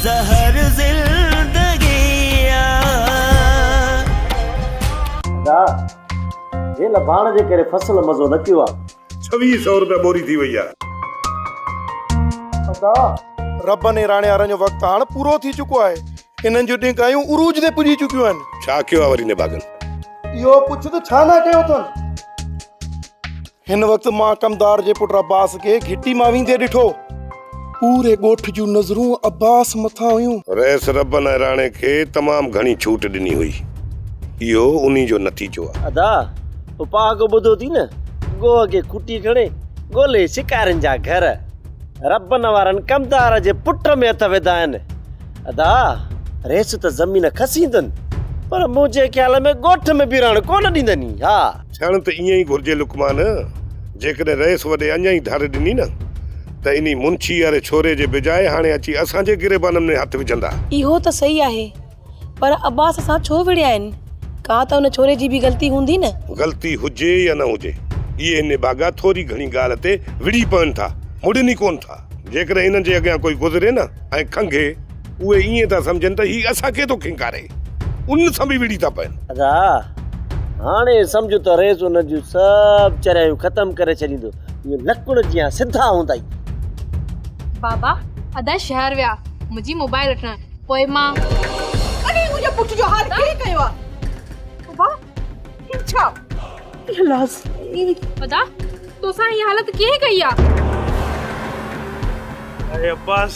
زهر زندگي آ. ادا هيل ڀاڻ جي ڪري فصل مزو نه ٿيو آ. ڇويهه سئو روپيه ٻوري ٿي وئي آ. ادا ربن ۽ راڻيارن جو وقت هاڻ پورو ٿي چڪو آهي. انهن جون ڏيگايون عروج تي پڄي چڪيون آهن. ڇا ڪيو آ وري نڀاڳن. اهو پڇ ته ڇا نه ڪيو اٿن. هن وقت مان ڪمدار جي پٽ عباس کي گهٽي مان ويندي ڏٺو. پوري ڳوٺ جون نظرون عباس مٿان هيون. رئيس ربن ۽ راڻي کي تمام گهڻي ڇوٽ ڏني هئي. اهو انهي جو نتيجو آهي. ادا، تو پهاڪو ٻڌو ٿي نه؟ گوهه کي کوٽي کڻي ڳولي شڪارين جا گهر ربن وارن ڪمدار جي پٽ ۾ هٿ وڌا آهن. ادا، رئيس ته زمين کسيندن، پر منهنجي خيال ۾ ڳوٺ ۾ به رهڻ ڪونه ڏيندن. ها! ٿيڻ ته ايئن ئي گهرجي لقمان، جيڪڏهن رئيس وڏي اڃا ئي ڌر ڏني نه ته انهي منشي واري ڇوري جي بجاء هاڻي اچي اسان جي گريبانن ۾ هٿ وجهندا. اهو ته صحيح آهي، پر عباس سان ڇو وڙهيائين؟ ڪا ته ان ڇوري جي به غلطي هوندي نه؟ غلطي هجي يا نه هجي، اهي انهي باگا ٿوري گهڻي ڳالهه تي وڙهي پون ٿا، مڙين ئي ڪونه ٿا. جيڪڏهن انهن جي اڳيان ڪوئي گذري نه ۽ کنگهي. اهي ائين ٿا سمجهن ته هي اسان کي ٿو کنڪاري، ان سان به وڙهي ٿا پئن. ادا! هاڻي سمجهه ته ريس انهن جون سڀ چريايون ختم ڪري ڇڏيندو، اهي لڪڻ جيان سڌا هوندا ئي. بابا! ادا شهر ويا منهنجي موبائل وٺڻ، پوء مان. اڙي منهنجي پٽ جو حال ڪنهن ڪيو آ؟ بابا! هي ڇا؟ اي الاس! اي. ادا! توسان هي حالت ڪنهن ڪئي آ؟ اڙي عباس!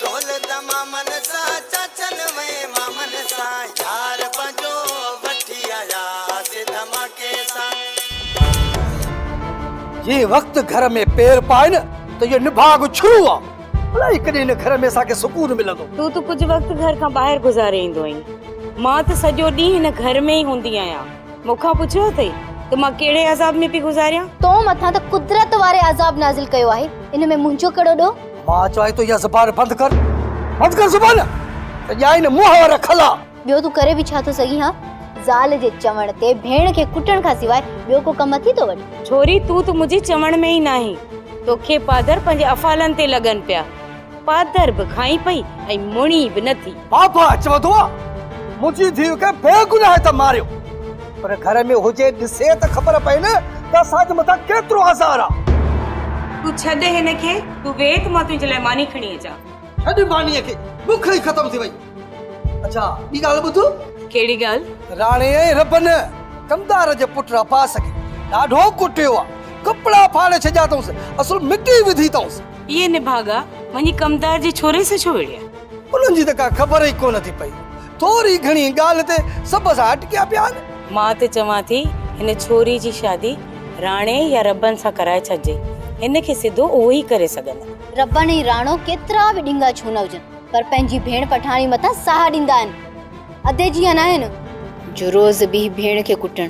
دولت مامن سان چاچن وين مامن سان يار پنهنجو وٺي آيا سي ڌماڪي سان. جي وقت گهر ۾ پير پائي نه ته اهو نڀاڳ ڇڙو آ. الائي ڪڏهن ان گهر ۾ اسان کي سڪون ملندو. تون ته ڪجهه وقت گهر کان ٻاهر گذاري ايندو آهين. مان ته سڄو ڏينهن هن گهر ۾ ئي هوندي آهيان. مون کان پڇيو اٿئي ته مان ڪهڙي عذاب ۾ پئي گذاريان؟ تو مٿان ته قدرت واري عذاب نازل ڪيو آهي. ان ۾ منهنجو ڪهڙو ڏوهه؟ مان چوان ٿو اها زبان بند ڪر بند ڪر زبان ته ڄائي نه منهن وارا کلا. ٻيو تون ڪري به ڇا ٿو سگهين ها؟ زال جي چوڻ تي ڀيڻ کي ڪٽڻ کان سواء ٻيو ڪو ڪم اٿي ٿو وٽ؟ ڇوري تون ته منهنجي چوڻ ۾ ئي ناهين. توکي پادر پنهنجي افعالن تي لڳن پيا. پادر به کائين پئي ۽ مڙيئي به نٿي. بابا اچ وڌو آ منهنجي ڌيء کي بي گناهه ته ماريو پر گهر ۾ هجي ڏسي ته خبر پئي نه ته اسان جي مٿان ڪيترو آزار آ. تون ڇڏ هن کي تون ويٺ مان تنهنجي لاء ماني کڻي اچان. ڇڏ مانيء کي بک ئي ختم ٿي وئي. اڇا ٻي ڳالهه ٻڌ. ڪهڙي ڳالهه؟ راڻي ۽ ربن ڪمدار جي پٽ عباس کي ڏاڍو ڪٽيو آ ڪپڙا ڦاڙي ڇڏيا اٿئونس اصل مٽي وڌي اٿئونس. اي نڀاڳا وڃي ڪمدار جي ڇوري سان ڇو وڙهيئي؟ انهن جي ته ڪا خبر ئي ڪونه ٿي پئي. ٿوري گهڻي ڳالهه تي سڀ اسان اٽڪيا پيا آهن. مان ته چوان ٿي هن ڇوري جي شادي راڻي يا ربن سان ڪرائي ڇڏجي. هن کي سڌو اهو ئي ڪري سگهندا. ربن ۽ راڻو ڪيترا به ڏنگا ڇو نه هجن پر پنهنجي ڀيڻ پٺاڻي مٿان ساهه ڏيندا آهن. ادي جيئن آهن. جو روز ٻيهي ڀيڻ کي ڪٽڻ.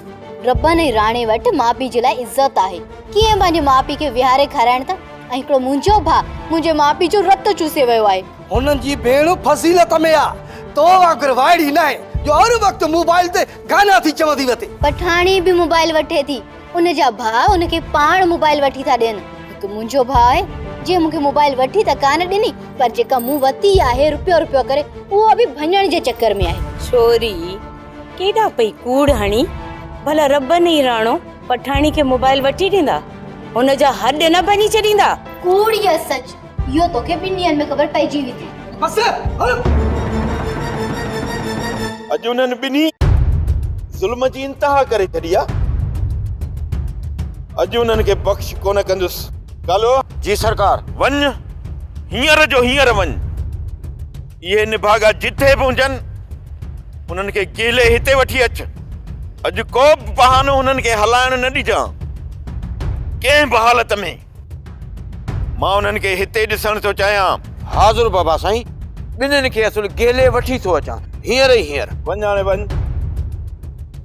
ربن ۽ راڻي وٽ ماء پيء جي لاء عزت آهي. ڪيئن پنهنجي ماء پيء کي ويهاري کارائڻ ته. ۽ هڪڙو منهنجو ڀاء منهنجي ماء پيء جو رت چوسي ويو آهي. هنن جي ڀيڻ فضيلت ۾ آ تو وانگر وائڙي ناهي جو هر وقت موبائل تي گانا ٿي چوندي وتي. پٺاڻي به موبائل وٺي ٿي ان جا ڀاء ان کي پاڻ موبائل وٺي ٿا ڏين هڪ منهنجو ڀاء آهي جنهن مون کي موبائل وٺي ته ڪانه ڏني پر جيڪا مون وتي آهي رپيو رپيو ڪري اها به ڀڃڻ جي چڪر ۾ آهي. ڇوري ڪيڏا پئي ڪوڙ هڻي ڀلا ربن ئي راڻو. پٺاڻي کي موبائل وٺي ڏيندا هن جا هڏ نه ڀڃي ڇڏيندا. ڪوڙ يا سچ اهو توکي ٻن ڏينهن ۾ خبر پئجي ويندي. بس اڄ انهن ٻنهي ظلم جي انتها ڪري ڇڏي آ اڄ انهن کي بخش ڪونه ڪندس ڪالو. جي سرڪار وڃ هينئر جو هينئر وڃ. اهي نڀاڳا جتي به هجن انهن کي ڪيلي هتي وٺي اچ اڄ ڪو به بهانو انهن کي هلائڻ نه ڏجان ڪنهن به حالت ۾ مان انهن کي هتي ڏسڻ ٿو چاهيان حاضر بابا سائين ٻنهن کي اصل ڪيلي وٺي ٿو اچان هينئر ئي هينئر. وڃ هاڻي وڃ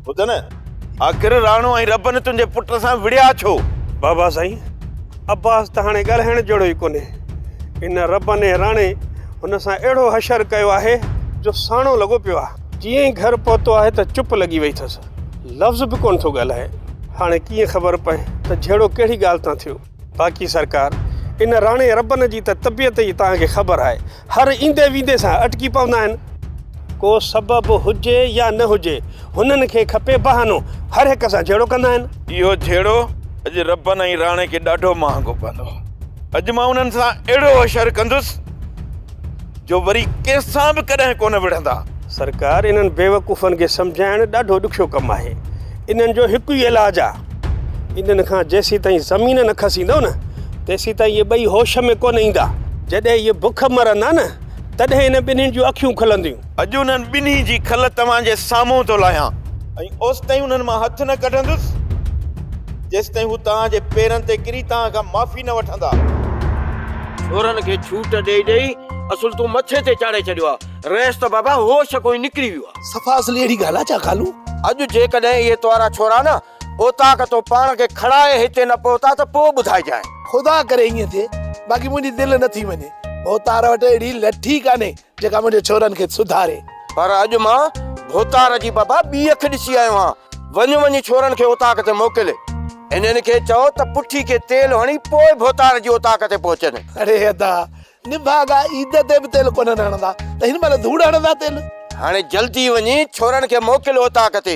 ٻڌ نه آخر راڻو ۽ ربن تنهنجي پٽ سان وڙهيا ڇو؟ بابا سائين عباس ته هاڻي ڳالهائڻ جهڙو ئي ڪونهي ان ربن ۽ راڻي هن سان اهڙو حشر ڪيو آهي جو ساڻو لڳو پيو آهي. جيئن ئي گهر پهتو آهي ته چپ لڳي وئي اٿس. لفظ به ڪونه ٿو ڳالهائي. هاڻي ڪيئن خبر پئي ته جهيڙو ڪهڙي ڳالهه تان ٿيو. باقي سرڪار، ان راڻي ربن جي ته طبيعت ئي توهان کي خبر آهي. هر ايندي ويندي سان اٽڪي پوندا آهن. ڪو سبب هجي يا نه هجي، هنن کي کپي بهانو. هر هڪ سان جهيڙو ڪندا آهن. اهو جهيڙو اڄ رپن ۽ راڻي کي ڏاڍو مهانگو پوندو. اڄ مان انهن سان اهڙو اشر ڪندس جو وري ڪنهن سان به ڪڏهن ڪونه وڙهندا. سرڪار انهن بيوقوفن کي سمجهائڻ ڏاڍو ڏکيو ڪم آهي. انهن جو هڪ ئي علاج آ. انهن کان جيسيتائين زمين نه کسيندو نه تيسيتائين اهي ٻئي هوش ۾ ڪونه ايندا. جڏهن اهي بک مرندا نه تڏهن هن ٻنهين جون اکيون کلنديون. اڄ انهن ٻنهي جي کل توهان جي سامهون ٿو لاهيان ۽ اوستائين انهن مان هٿ نه ڪڍندس، جيستائين هو توهان جي پيرن تي ڪري توهان کان معافي نه وٺندا. سورن کي ڇوٽ ڏئي ڏئي اصل تون مٿي تي چاڙهي ڇڏيو آ. رئيس ته بابا هوش ڪوئي نڪري ويو آ. صفا اصلي اهڙي ڳالهه آ ڇا ڪالو؟ اڄ جيڪڏهن اهي توارا ڇورا نه اوطاق تون پاڻ کي کڻائي هتي نه پهتا ته پوء ٻڌائجانء. خدا ڪري ائين ٿئي، باقي منهنجي دل نه ٿي مڃي. اوطار وٽ اهڙي لٺي ڪانهي جيڪا منهنجي ڇورن کي سڌاري. پر اڄ مان ڀوتار جي بابا ٻي اک ڏسي آيو آهيان. وڃ وڃي ڇورن کي اوطاق تي موڪل. انهن کي چئو ته پٺي کي تيل هڻي پوء ڀوتار جي اوطاق تي پهچن. اڙي ادا، نڀاڳا عيد تي به تيل ڪونهن هڻندا ته هن مهل ڌوڙ هڻندا تيل. هاڻي جلدي وڃي ڇورن کي موڪل اوطاق تي.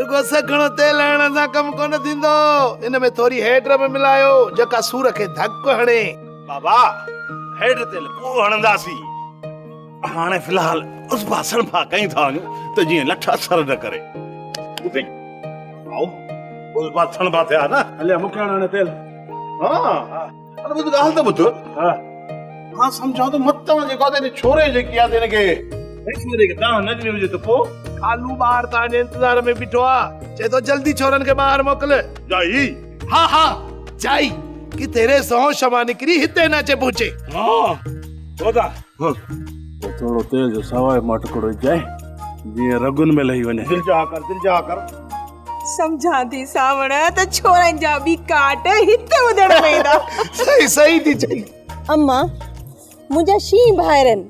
رڳو سگهڻو تيل هڻڻ سان ڪم ڪونه ٿيندو. ان ۾ ٿوري هيڊ به ملايو، جيڪا سور کي ڌڪ هڻي. بابا، هيڊ تيل پوء هڻنداسين. هاڻي في الحال اصبا سڻڀا ڪيون ٿا وڃون ته جيئن لٺ اثر نه ڪري. ڀوپي، هائو، اصبا سڻڀا ٿيا نه. هليا مڪياڻا هڻي تيل. ها. اڙي ٻڌ ڳالهه ته ٻڌ ها مان سمجهان ٿو مت توهان جيڪو تنهنجي ڇوري جيڪي آ تنهن کي هن ڇوري کي دانهن نه ڏني هجي ته پو ڪالو ٻار توهان جي انتظار ۾ بيٺو آ چئي ٿو جلدي ڇورن کي ٻاهر موڪل جائي ها ها جائي ڪي تيري سهو شما نڪري هتي نه اچي پهچي ها خدا ها پو ٿورو تيل جو سواء ماٽڪڙو جائي جيئن رڳن ۾ لهي وڃي دل جا ڪر دل جا ڪر سمجهان ٿي سانوڻ ته ڇورن جا به ڪاٽ هت ٻڌڻ ۾ ايندا صحيح صحيح ٿي چئي اما منهنجا شينهن ڀائرن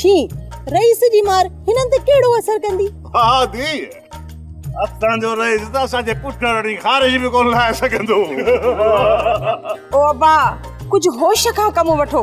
شينهن رئيس جي مار هنن تي ڪهڙو اثر ڪندي ها ڌي اسان جو رئيس ته اسان جي پٺ رڙي خارج به ڪونه لائي سگهندو او ابا ڪجهه هوش کان ڪم وٺو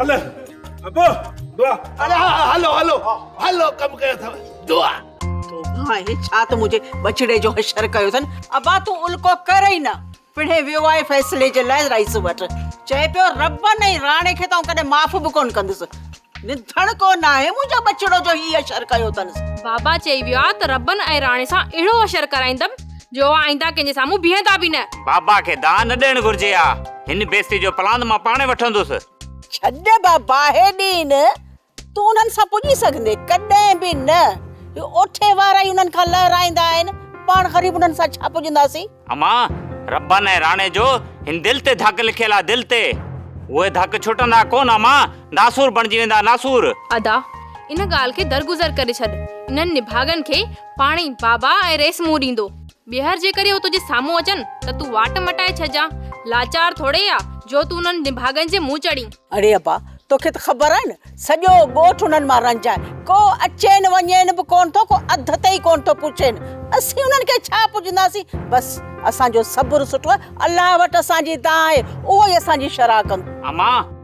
هلو ابو دعا هلو هلو هلو هلو ڪم ڪيو اٿو دعا تو ها هي ڇا ته منهنجي بچڙي جو حشر ڪيو اٿن ابا تون الڪو ڪر ئي نه پڻهي ويو آهي فيصلي جي لاء رئيس وٽ چئي پيو رب نه راڻي کي تون ڪڏهن معاف به ڪون ڪندس نڌڻ ڪو نه آهي منهنجا بچڙو جو هي حشر ڪيو اٿن بابا چئي ويو آهي ته ربن ۽ راڻي سان اهڙو حشر ڪرائيندم جو آئنده ڪنهن جي سامهون بيهندا به نه. بابا کي دانهن نه ڏيڻ گهرجي ها. هن بيستي جو پلاند مان پاڻهي وٺندس. ڇڏ بابا هيڏين، تون انهن سان پڄي سگهندي؟ ڪڏهن به نه. هي اوٺي وارا ئي انهن کان لهرائيندا آهن. پاڻ غريب انهن سان ڇا پڄنداسين؟ اما، ربن ۽ راڻي جو هن دل تي ڌڪ لکيل آ دل تي. اهي ڌڪ ڇٽندا ڪونه اما، ناسور بڻجي ويندا ناسور. ادا، ان ڳالهه کي درگذر ڪري ڇڏ. انهن نڀاڳن کي پاڻي، بابا ۽ ريسمون ڏيندو. ٻيهر جيڪڏهن هو تنهنجي سامهون اچن ته تون واٽ مٽائي ڇڏجان. لاچار ٿوڙي آ جو تون انهن نڀاڳن جي منهن چڙهين. اڙي ابا، توکي ته خبر آهي نه، سڄو ڳوٺ انهن مان رنج آهي. ڪو اچين وڃين به ڪونه ٿو، ڪو اڌ تي ئي ڪونه ٿو پڇين. اسين انهن کي ڇا پڇنداسين؟ بس، اسان جو صبر سٺو آهي. الله وٽ اسان جي دانهن آهي، اهو ئي اسان جي شرح ڪندو. امان!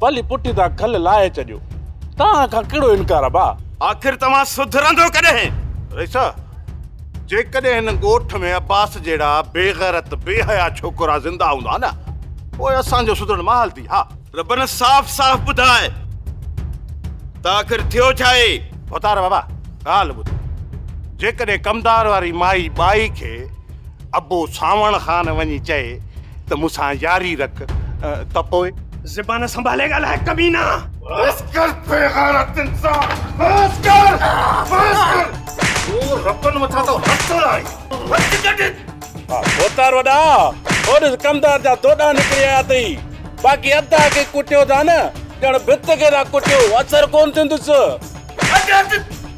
پلي پٽي تان کل لاهي ڇڏيو. تان کان ڪهڙو انڪار آ ڀاء. آخر توهان سڌرندو ڪڏهن؟ رئيسه! جيڪڏهن هن ڳوٺ ۾ عباس جهڙا بيغيرت بيحيا ڇوڪرا زنده هوندا نه پوء اسان جو سڌرڻ محال ٿي ها. ربنا صاف صاف ٻڌاء ته آخر ٿيو ڇا اهي؟ ڀتار بابا ڳالهه ٻڌ جيڪڏهن ڪمدار واري مائي ٻائي کي. ابو سانوڻ خان وڃي چئي ته مون سان ياري رک ته پوء. زبان سنڀالي ڳالهاء ڪمينا. بس ڪر بيغيرت انسان بس ڪر بس ڪر تون رپن مٿان ٿو هٿ هڻين هٿ ڪڍ. ڀوتار وڏا هو ڏس ڪمدار جا دوڏا نڪري آيا اٿئي باقي ادا کي ڪٽيو ٿا نه ڄڻ ڀت کي ٿا ڪٽيو اثر ڪون ٿيندس. ڪڍ هٿ.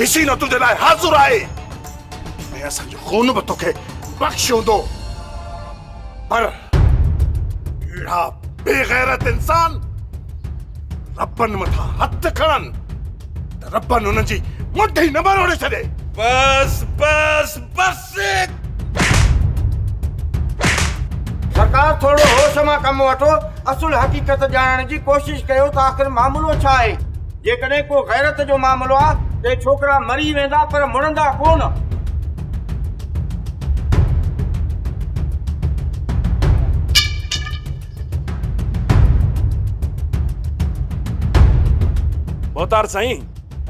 حسينه تنهنجي لاء حاضر آهي ۽ اسان جو خون به توکي بخش هوندو پر اهڙا بيغيرت انسان ربن مٿان هٿ کڻن ته ربن انهن جي مٺ ئي نه مروڙي ڇڏي. بس بس بس سرڪار ٿورڙو هوش مان ڪم وٺو اصل حقيقت ڄاڻڻ جي ڪوشش ڪيو ته آخر معاملو ڇا آهي جيڪڏهن ڪو غيرت جو معاملو آ ته ڇوڪرا مري ويندا پر مڙندا ڪونه. ڀوتار سائين!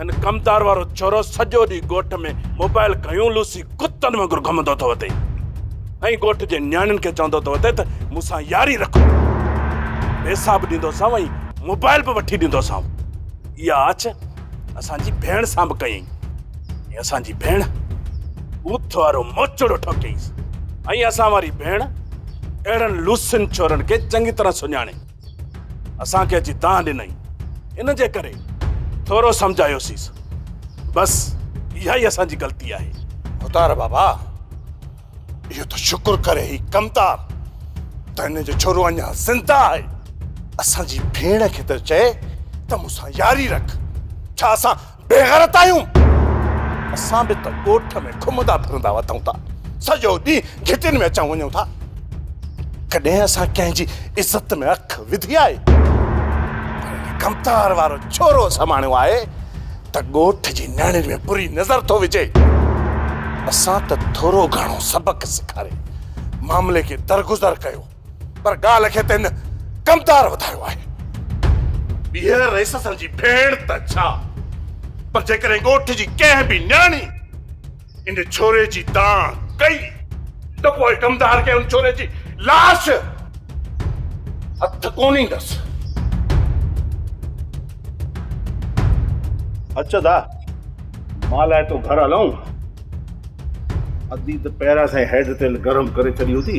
هن ڪمدار وارو ڇورو سڄو ڏينهن ڳوٺ ۾ موبائل کنيون لوسي ڪتن وانگر گهمندو ٿو اٿئي ۽ ڳوٺ جي نياڻين کي چوندو ٿو اٿئي ته مون سان ياري رکو پيسا به ڏيندوسانو ۽ موبائل به وٺي ڏيندوسانو اها آڇ اسانجي ڀيڻ سان به ڪيائين ۽ اسانجي ڀيڻ اوٿ وارو موچڙو ٺوڪيائينس ۽ اسان واري ڀيڻ اهڙن لوسن ڇورن کي چڱي طرح سڃاڻي اسان کي اچي دانهن ڏنائين، ان جي ڪري ٿورو سمجهايوسيس. بس اها ئي اسان جي غلطي آهي. اوتار بابا، اهو ته شڪر ڪري هي ڪمتار ته هن جو ڇورو اڃا زنده آهي. اسان جي ڀيڻ کي ته چئه ته مون سان ياري رک، ڇا اسان بيغيرت آهيون، اسان به ته ڳوٺ ۾ گهمندا ڦرندا وتون ٿا، سڄو ڏينهن گهٽين ۾ اچون وڃون ٿا، ڪڏهن اسان ڪنهن جي عزت ۾ اک وڌي آهي؟ پر هن ڪمتار وارو ڇورو سماڻيو آهي ته ڳوٺ جي نياڻين ۾ بري نظر ٿو وجهي، اسان ته ٿورو گهڻو سبق سيکاري معاملي کي درگذر ڪيو. پر ڳالهه کي ته هن ڪمتار وڌايو آهي. ٻيهر رئيس سان جي ڀيڻ ته ڇا پر جيڪڏهن ڳوٺ جي ڪنهن به نياڻي ان ڇوري جي دانهن ڪئي ته پوء ڪمتار کي ان ڇوري جي لاش هٿ ڪونه ايندس. اچ ته مان لاء تو گهر هلئون. ادي ته پهريان سان ئي هيڊ تيل گرم ڪري ڇڏي هوندي.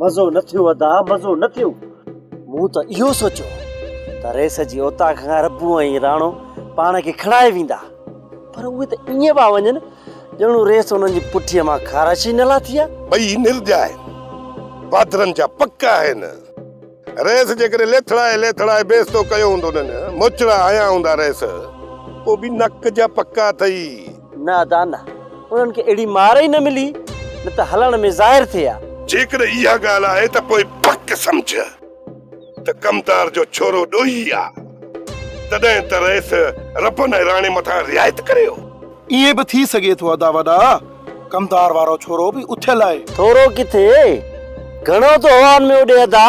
مزو نه ٿيو ادا مزو نه ٿيو. مون ته اهو سوچيو ته ريس جي اوطاق کان ربو ۽ راڻو پاڻ کي کڻائي ويندا پر اهي ته ائين پيا وڃن ڄڻو ريس انهن جي پٺيء مان خارش ئي نه لاٿي آهي. ٻئي نرڄائي بهادرن جا پڪ آهن. رئيس جيڪڏهن ليٿڙائي ليٿڙائي بيستو ڪيو هوندونن، موچڙا هنيا هوندا رئيس، پوء به نڪ جا پڪا اٿئي. نه ادا نه، انهن کي اهڙي مار ئي نه ملي، نه ته هلڻ ۾ ظاهر ٿئي ها. جيڪڏهن اها ڳالهه آهي ته پوء پڪ سمجهه ته ڪمتار جو ڇورو ڏوهي آ، تڏهن ته رئيس ربن ۽ راڻي مٿان رعايت ڪري هو. ائين به ٿي سگهي ٿو ادا وڏا. ڪمدار وارو ڇورو به اٿيل آهي. ٿورو ڪٿي، گهڻو ٿو هوائن ۾ اڏي ادا.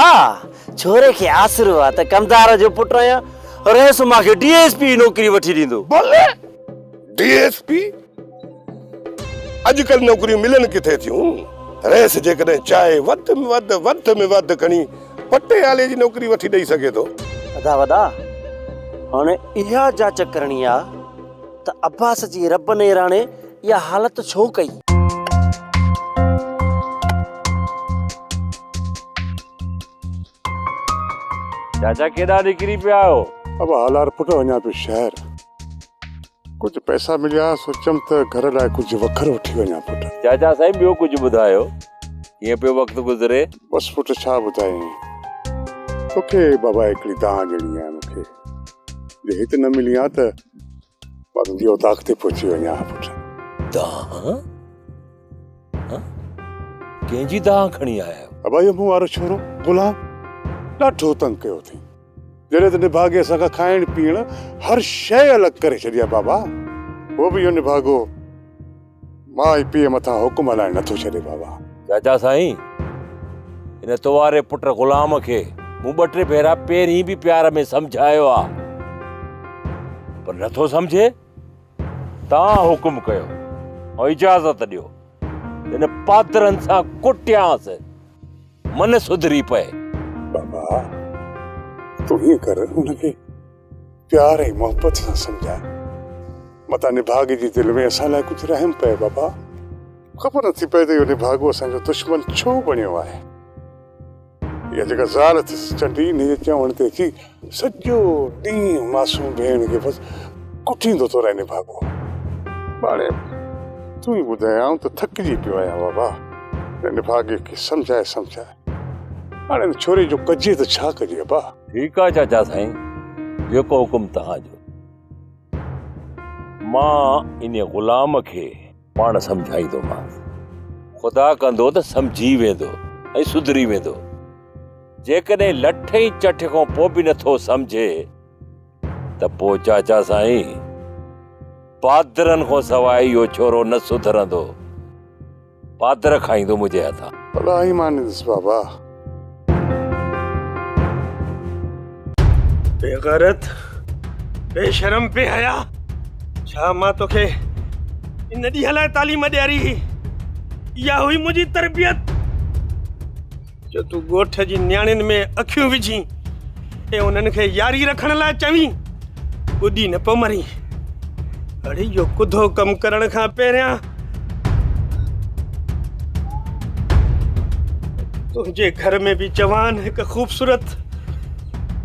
ڇوري کي آسرو آ ته ڪمدار جو پٽ آهيان. رئيس مان کي ڊي ايس پي جي نوڪري وٺي ڏيندو. بلي! D S P! اڄڪلهه نوڪريون ملن ڪٿي ٿيون. رئيس جيڪڏهن چاهي وڌ م وڌ وڌ م وڌ کڻي پٽيالي جي نوڪري وٺي ڏئي سگهي ٿو. ادا وڏا، هاڻي اها جاچ ڪرڻي آ. ته عباس جي رب نيراڻي اها حالت ڇو ڪئي؟ چاچا ڪيڏانهن نڪري پيا آهيو؟ ابا هالار پٽ وڃان پيو شهر. ڪجهه پئسا مليا سوچيم ته گهر لاء ڪجهه وکر وٺي وڃان پٽ. چاچا سائين ٻيو ڪجهه ٻڌايو ڪيئن پيو وقت گذري؟ بس پٽ ڇا ٻڌايين توکي بابا هڪڙي دانهن ڏيڻي آهي مونکي جي هت نه ملين ها ته. بند جي اوطاق تي پهچي وڃا ها پٽ دانهن ڪنهن جي دانهن کڻي آيا آهيو ابا اهو مون وارو ڇورو غلام ڏاڍو تنگ ڪيو اٿئي جڏهن ته نڀاڳي اسان کان کائڻ پيئڻ هر شيء الڳ ڪري ڇڏي آهي بابا هو به اهو نڀاڳو مان ئي پيء مٿان حڪم هلائڻ نٿو ڇڏي بابا. چاچا سائين ان تو واري پٽ غلام کي مون ٻه ٽي ڀيرا پهرين به پيار ۾ سمجهايو آ پر نٿو سمجهي. توهان حڪم ڪيو ۽ اجازت ڏيو ته ان پادرن سان ڪٽيانس من سڌري پئي. بابا تون هيئن ڪر ان کي. پيار ۽ محبت سان سمجهاء. متان نڀاڳي جي دل ۾ اسان لاء ڪجهه رحم پئي بابا. خبر نه ٿي پئي ته اهو نڀاڳو اسان جو دشمن ڇو بڻيو آهي. اها جيڪا زال اٿس چنڊي انهيء جي چوڻ تي اچي سڄو ڏينهن معصوم ڀيڻ کي بس ڪٽيندو ٿو رهي نڀاڳو. ٻاڙي تون ئي ٻڌايائون ته ٿڪجي پيو آهيان بابا. هن نڀاڳي کي سمجهائي سمجهائي. هاڻي ان ڇوري جو ڪجي ته ڇا ڪجي ابا ٺيڪ آ چاچا سائين جيڪو حڪم توهان جو مان ان غلام کي پاڻ سمجهائيندومانس خدا ڪندو ته سمجهي ويندو ۽ سڌري ويندو جيڪڏهن لٺ ۽ چٺ کان پوء به نٿو سمجهي ته پوء چاچا سائين بادرن کان سواء اهو ڇورو نه سڌرندو پاتر کائيندو منهنجي هٿان. اڏا ئي مانيس بابا. بي غيرت بي شرم بي حيا ڇا مان توکي ان ڏينهن لاء تعليم ڏياري هئي اها هئي منهنجي تربيت. جو تون ڳوٺ جي نياڻين ۾ اکيون وجهين ۽ انهن کي ياري رکڻ لاء چوين، ٻڏي نه پيو مرين. اڙي اهو ڪڌو ڪم ڪرڻ کان پهريان تنهنجي گهر ۾ به جوان هڪ خوبصورت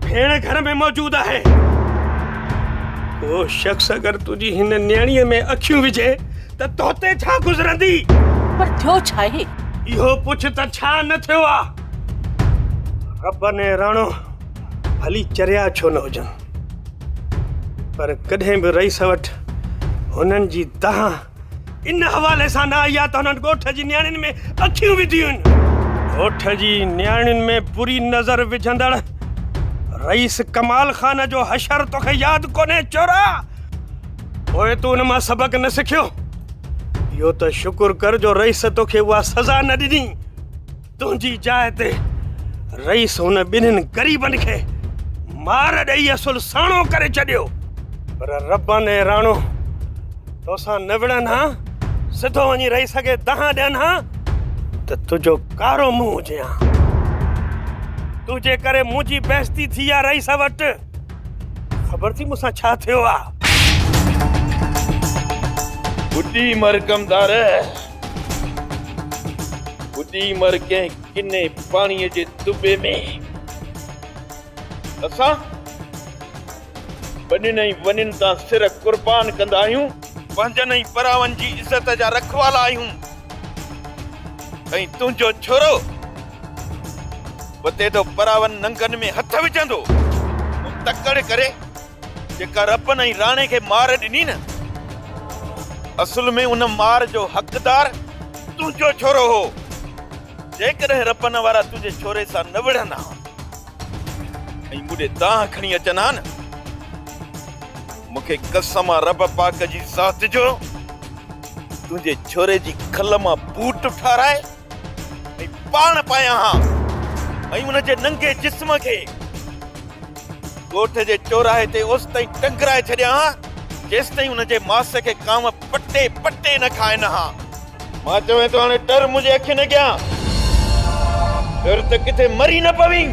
ڀيڻ گهر ۾ موجود آهي. ڪو شخص اگر تنهنجي هن نياڻيء ۾ اکيون وجهي ته توتي ڇا گذرندي؟ پر ٿيو ڇا آهي؟ اهو پڇ ته ڇا نه ٿيو آ؟ ربن ۽ راڻو ڀلي چريا ڇو نه هجن پر ڪڏهن به رئيس وٽ هنن جي دانهن ان حوالي سان نه آئي آ ته هنن ڳوٺ جي نياڻين ۾ اکيون وڌيون آهن. ڳوٺ جي نياڻين ۾ بري نظر وجهندڙ رئيس ڪمال خان جو حشر توکي ياد ڪونهي چورا؟ پوء تون ان مان سبق نه سکيو؟ اهو ته شڪر ڪر جو رئيس توکي اها سزا نه ڏني. تنهنجي جاء تي رئيس هن ٻنهين غريبن کي مار ڏئي اصل ساڻو ڪري ڇڏيو. پر ربان ۽ راڻو توسان نه وڙهن ها، سڌو وڃي رئيس کي دانهن ڏين ها ته تنهنجو ڪارو منهن هجي ها. تنهنجي ڪري منهنجي بيعزتي ٿي آ رئيس وٽ. خبر ٿي مون سان ڇا ٿيو آ ٻڍي مر ڪمدار ٻڍي مر ڪنهن ڪني پاڻي جي دٻي ۾ اسان ٻنين ۽ ونين تان سر قربان ڪندا آهيون پنهنجن ۽ پراون جي عزت جا رکوالا آهيون ۽ تنهنجو ڇورو وتي ته پراون ننگن ۾ هٿ وجهندو ان تڪڙ ڪري جيڪا رپن ۽ راڻي کي مار ڏني نه اصل ۾ ان مار جو حقدار تنهنجو ڇورو هو جيڪڏهن رپن وارا تنهنجي ڇوري سان نه وڙهن ها ۽ مونڊي دانهن کڻي اچن ها نه مونکي قسم آ رب پاڪ جي ذات جو تنهنجي ڇوري جي کل مان بوٽ ٺارائي ۽ پاڻ پايان ها ۽ ان جي ننگي جسم کي ڳوٺ جي چوراهي تي اوستائين ٽنگرائي ڇڏيان ها جيستائين ان جي ماس کي ڪانء پٽي پٽي نه کائن ها. مان چوين ٿو هاڻي ٽر منهنجي اکين اڳيان. ٽر ته ڪٿي مري نه پوين.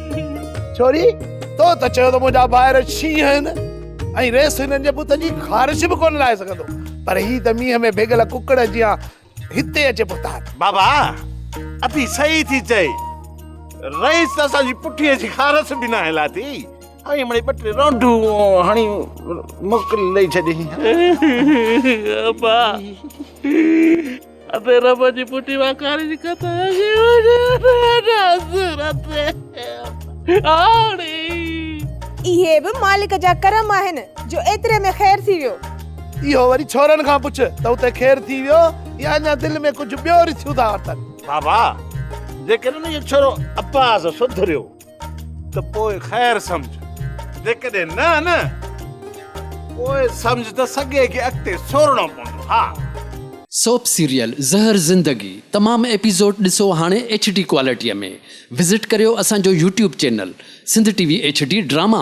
ڇوري تو ته چيو ته منهنجا ڀائر شينهن آهن ۽ ريس هنن جي بت جي خارش به ڪونه لاهي سگهندو پر هي ته مينهن ۾ ڀيڳل ڪڪڙ جيان هتي اچي پهتا آهن بابا اٿي صحيح ٿي چئي رئيس ته اسان جي پٺيء جي خارش به ناهي لاٿي هاڻي مڙي ٻه ٽي رونڊون هڻي موڪل ڏئي ڇڏي ابا اٿي رب جي پٽي مان ڪاري جي ڪٿا جي اهي به مالڪ جا ڪرم آهن جو ايتري ۾ خير ٿي ويو. اهو وري ڇورن کان پڇ ته اتي خير ٿي ويو يا اڃا دل ۾ ڪجهه ٻيو رسيون ٿا ورتن. بابا جيڪڏهن اهو ڇورو اپاهه سان سڌريو. ته پوء خير سمجهه، جيڪڏهن نه نه پوء سمجهه ته سڳي کي اڳتي سورڻو پوندو. ها! سوپ سيريل زهر زندگي تمام ايپيسوڊ ڏسو هاڻي ايڇ ڊي ڪوالٽيء ۾ وزٽ ڪريو اسان جو YouTube channel Sindh T V H D drama.